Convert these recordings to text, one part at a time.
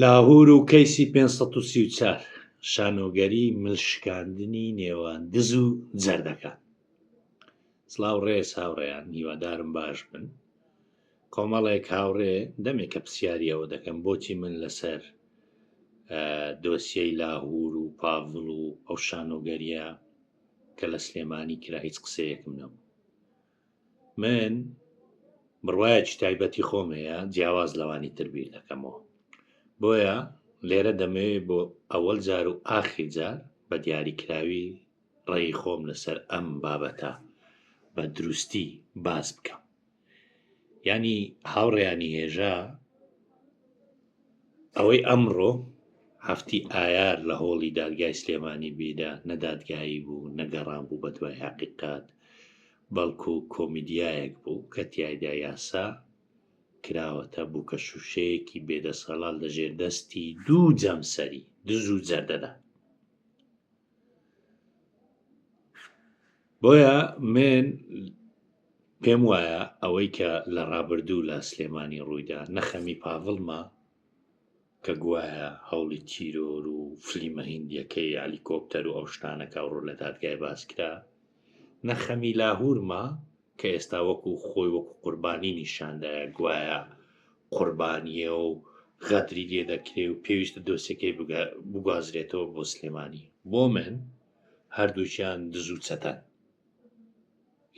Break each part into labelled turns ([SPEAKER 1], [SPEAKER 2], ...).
[SPEAKER 1] لاهور و کەیسی پێنج سەد و سی و چوار شانۆگەری مل شکاندنی نێوان دز و جەردەکان سلااو ڕێز هاوڕێیان هیوادارم باش بن کۆمەڵێک هاوڕێ دەمێکە پرسیاریەوە دەکەم بۆچی من لەسەر دۆسیەی لاهور و پاڤڵ و ئەو شانۆگەریە کە لە سلێمانی کرا هیچ قسەیەکم نەبوو من بڕوایەکی تایبەتی خۆم هەیە جیاواز لەوانی تر بیر دەکەمەوە بۆیە لێرە دەمەوێت بۆ ئەوەل جار و ئاخیر جار بە دیاریکراوی ڕێی خۆم لەسەر ئەم بابەتە بە دروستی باس بکەم ینی هاوڕێیانی هێژا ئەوەی ئەمڕۆ هەفتی ئایار لە هۆڵی دادگای سلێمانی بیرە نە دادگایی بوو نە گەڕان بوو بە دوای هەقیقەت بەڵکو کۆمیدیایەک بوو کە تیایدا یاسا کراوەتە بووکە شووشەیەکی بێدەسەڵات لە ژێر دەستی دوو جەمسەری دز و جەردەدا. بۆیە من پێم وایە ئەوەی کە لە ڕابردوو لە سلێمانی ڕوویدا نەخەمی پاڤڵمە کە گوایە هەوڵی تیرۆر و فلیمە هندیەکەی ئەلیکۆپتەر و ئەو شتانەکە ڕوو لە دادگای باسکرا نەخەمی لاهورما کە ئێستا وەکو خۆی وەکو قوربانی نیشاندایە گوایە قوربانیە و غەدری لێ دەکرێ و پێویستە دۆسەکەی بگوازرێتەوە بۆ سلێمانی بۆ من هەردووکیان دز و چەتەن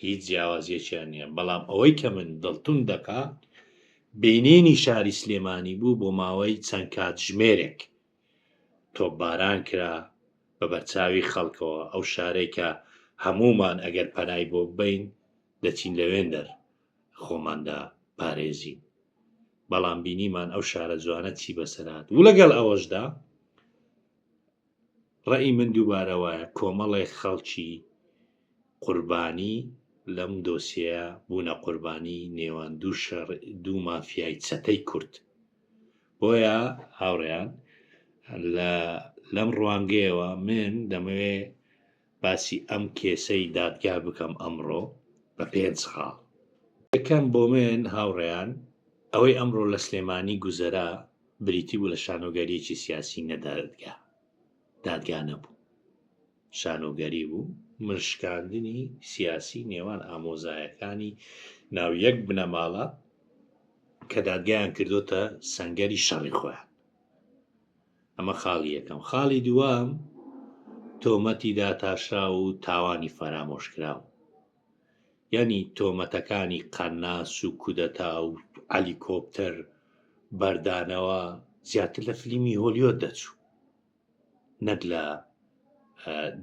[SPEAKER 1] هیچ جیاوازیەکیان نییە بەڵام ئەوەی کە من دڵتون دەکا بینینی شاری سلێمانی بوو بۆ ماوەی چەند کات ژمێرێک تۆپباران کرا بە بەرچاوی خەڵکەوە ئەو شارێکە هەمومان ئەگەر پەنای بۆ بین دەچین لەوێندەر خۆماندا پارێزین بەڵام بینیمان ئەو شارە جوانە چی بەسەرات و لەگەڵ ئەوەشدا ڕەئی من دووبارە وایە کۆمەڵێک خەڵکی قوربانی لەم دۆسیەیە بوونە قوربانی نێوان دوو شەڕ دوو مافیای چەتەی کورد بۆیە هاوڕێیان لە لەم ڕوانگەیەوە من دەمەوێ باسی ئەم کێسەی دادگا بکەم ئەمڕۆ بە پێنج خاڵ. یەکەم، بۆ من هاوڕێیان، ئەوەی ئەمڕۆ لە سلێمانی گوزەرا بریتی بوو لە شانۆگەریەکی سیاسی نە دادگا. دادگا نەبوو. شانۆگەری بوو، ملشکاندنی سیاسی نێوان ئامۆزایەکانی ناو یەک بنەماڵە کە دادگایان کردۆتە سەنگەری شەڕی خۆیان. ئەمە خاڵی یەکەم. خاڵی دووەم، تۆمەتی داتاشراو و تاوانی فەرامۆشکراو. یانی تۆمەتەکانی قەناس و کودەتا و عەلیکۆپتەر بەردانەوە زیاتر لە فلیمی هۆلیۆد دەچوو نەک لە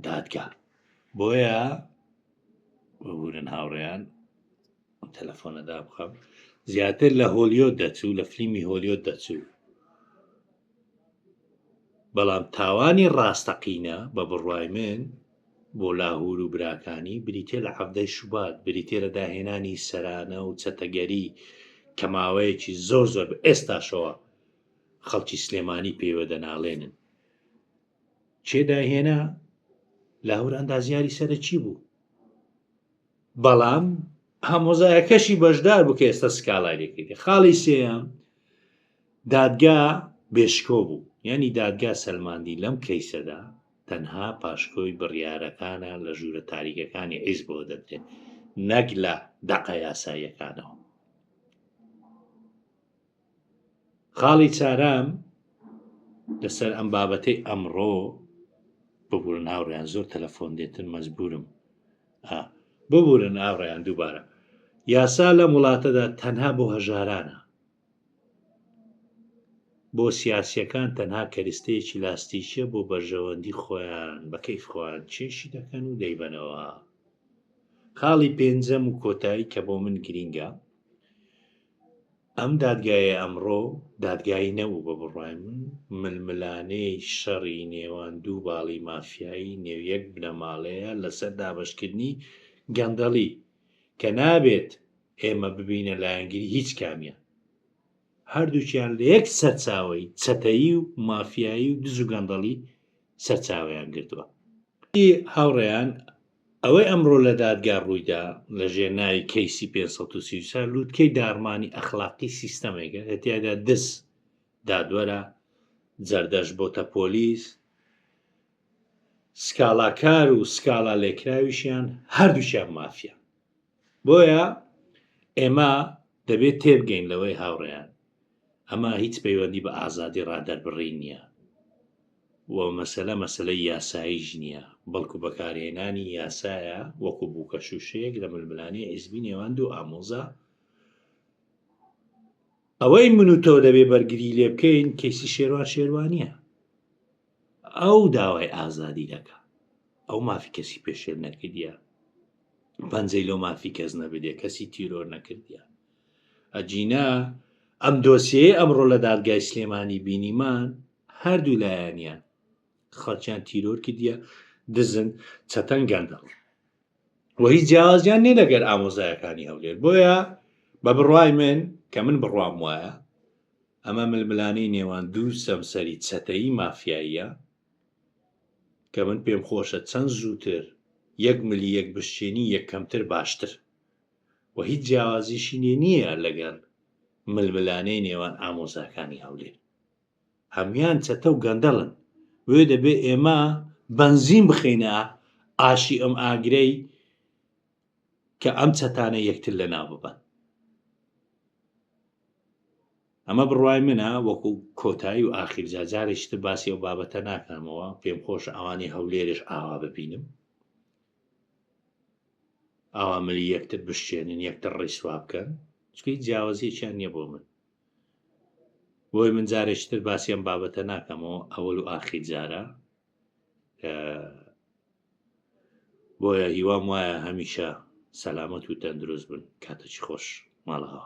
[SPEAKER 1] دادگا. بۆیە ببورن هاوڕێیان. تەلەفۆنە دابخەم زیاتر لە هۆلیۆت دەچوو لە فلیمی هۆلیۆت دەچوو بەڵام تاوانی ڕاستەقینە بە بڕوای من بۆ لاهور و براکانی بریتێ لە عەبدەی شوبات بریتێ لە داهێنانی سەرانە و چەتەگەری کە ماوەیەکی زۆر زۆر ئێستاشەوە خەڵکی سلێمانی پێوە دەناڵێنن چێ داهێنا لاهور ئەندازیاری سەرەکی بوو بەڵام هەمۆزایەکەشی بەشدار بوو کە ئێستا سکاڵای لێکردی خاڵی سێیان دادگا بێشکۆ بوو یعنی دادگا سەلماندی لەم کەیسەدا تەنها پاشکۆی بڕیارەکانە لە ژوورە تاریکەکانی عیز بۆ دەدرێت نەک لە دەقە یاساییەکانەوە خاڵی چارم لەسەر ئەم بابەتەی ئەمڕۆ ببورن هاوڕیان زۆر تەلەفۆن دێتن مەجبورم ببورن ئاڕیان دووبارە یاسا لەم وڵاتەدا تەنها بۆ هەژارانە بۆ سیاسیەکان تەنها کەریستەیەکی لاستیکە بۆ بەرژەوەندی خۆیان بەکەی خۆیان چێشی دەکەن و دەیبەنەوە خاڵی پێنجەم و کۆتایی کە بۆ من گرینگە ئەم دادگایە ئەمڕۆ دادگای نەبوو بە بڕوای من ململانێی شەڕی نێوان دوو باڵی مافیایی نێو یەک بنەماڵەیە لەسەر دابەشکردنی گەندەڵی کە نابێت ئێمە ببینە لایەنگری هیچ کامیان هەردووکیان لە یەک سەرچاوی چەتەیی و مافیایی و دز و گەندەڵی سەرچاویان گرتووە هاوڕێیان ئەوەی ئەمڕۆ لە دادگا ڕوویدا لە ژێر ناوی کەیسی پێنج سەد و سی و چوار لووتکەی داڕمانی ئەخلاقی سیستەمێکە کە تیادا دز، دادوەرە، جەردەش بۆتە پۆلیس، سکاڵاکار و سکاڵا لێکراویشیان هەردووکیان مافیان. بۆیە ئێمە دەبێت تێبگەین لەوەی هاوڕێیان ئەمە هیچ پەیوەندی بە ئازادی ڕادەربڕین نییە و مەسەلە مەسەلەی یاساییش نییە، بەڵکو بەکارهێنانی یاسایە وەکو بووکەشووشەیەک لە ململانێی حیزبی نێوان دوو ئامۆزا. ئەوەی من و تۆ دەبێ بەرگری لێ بکەین کەیسی شێروان شێروانییە. ئەو داوای ئازادی دەکا. ئەو مافی کەسی پێشێل نەکردە. پەنجەی لۆ مافی کەس نەبدێ کەسی تیرۆر نەکردە. ئەگینا ئەم دۆسیەیە ئەمڕۆ لە دادگای سلێمانی بینیمان هەردوو لایەنیان خەڵکیان تیرۆر کردە دزن چەتەن گەندەڵ وەی جیاوازیان نێ لەگەر ئامۆزایەکانی هەولێر بۆیە بە بڕای من کە من بڕام وایە ئەمە ململانەی نێوان دوو سەمسەری چەتەیی مافیاییە کە من پێم خۆشە چەند زووتر یەک ملی یەک بشێنی یەک کەمتر باشتر و هیچ جیاوازیشی لێ نییە لەگەر ململانێی نێوان ئامۆزاکانی هەولێر. هەموان چەتە و گەندەڵن، بۆیە دەبێ ئێمە بەنزین بخەینە ئاشی ئەم ئاگرەی کە ئەم چەتانە یەکتر لەناو ببەن. ئەمە بڕوای منە وەکو کۆتایی و ئاخیر جا جارێکی تر باسی ئەو بابەتە ناکەمەوە، پێم خۆشە ئەوانەی هەولێرێش ئاوا ببینم. ئاوامەلی یەکتر بشکێنن یەکتر ڕیسوا بکەن چکە هیچ جیاوازیەکیان نییە بۆ من بۆی من جارێکتر باسییان بابەتە ناکەمەوە ئەوەل و ئاخی جارە بۆیە هیوام وایە هەمیشە سەلامەت و تەندروست بن کاتەچی خۆش ماڵەوە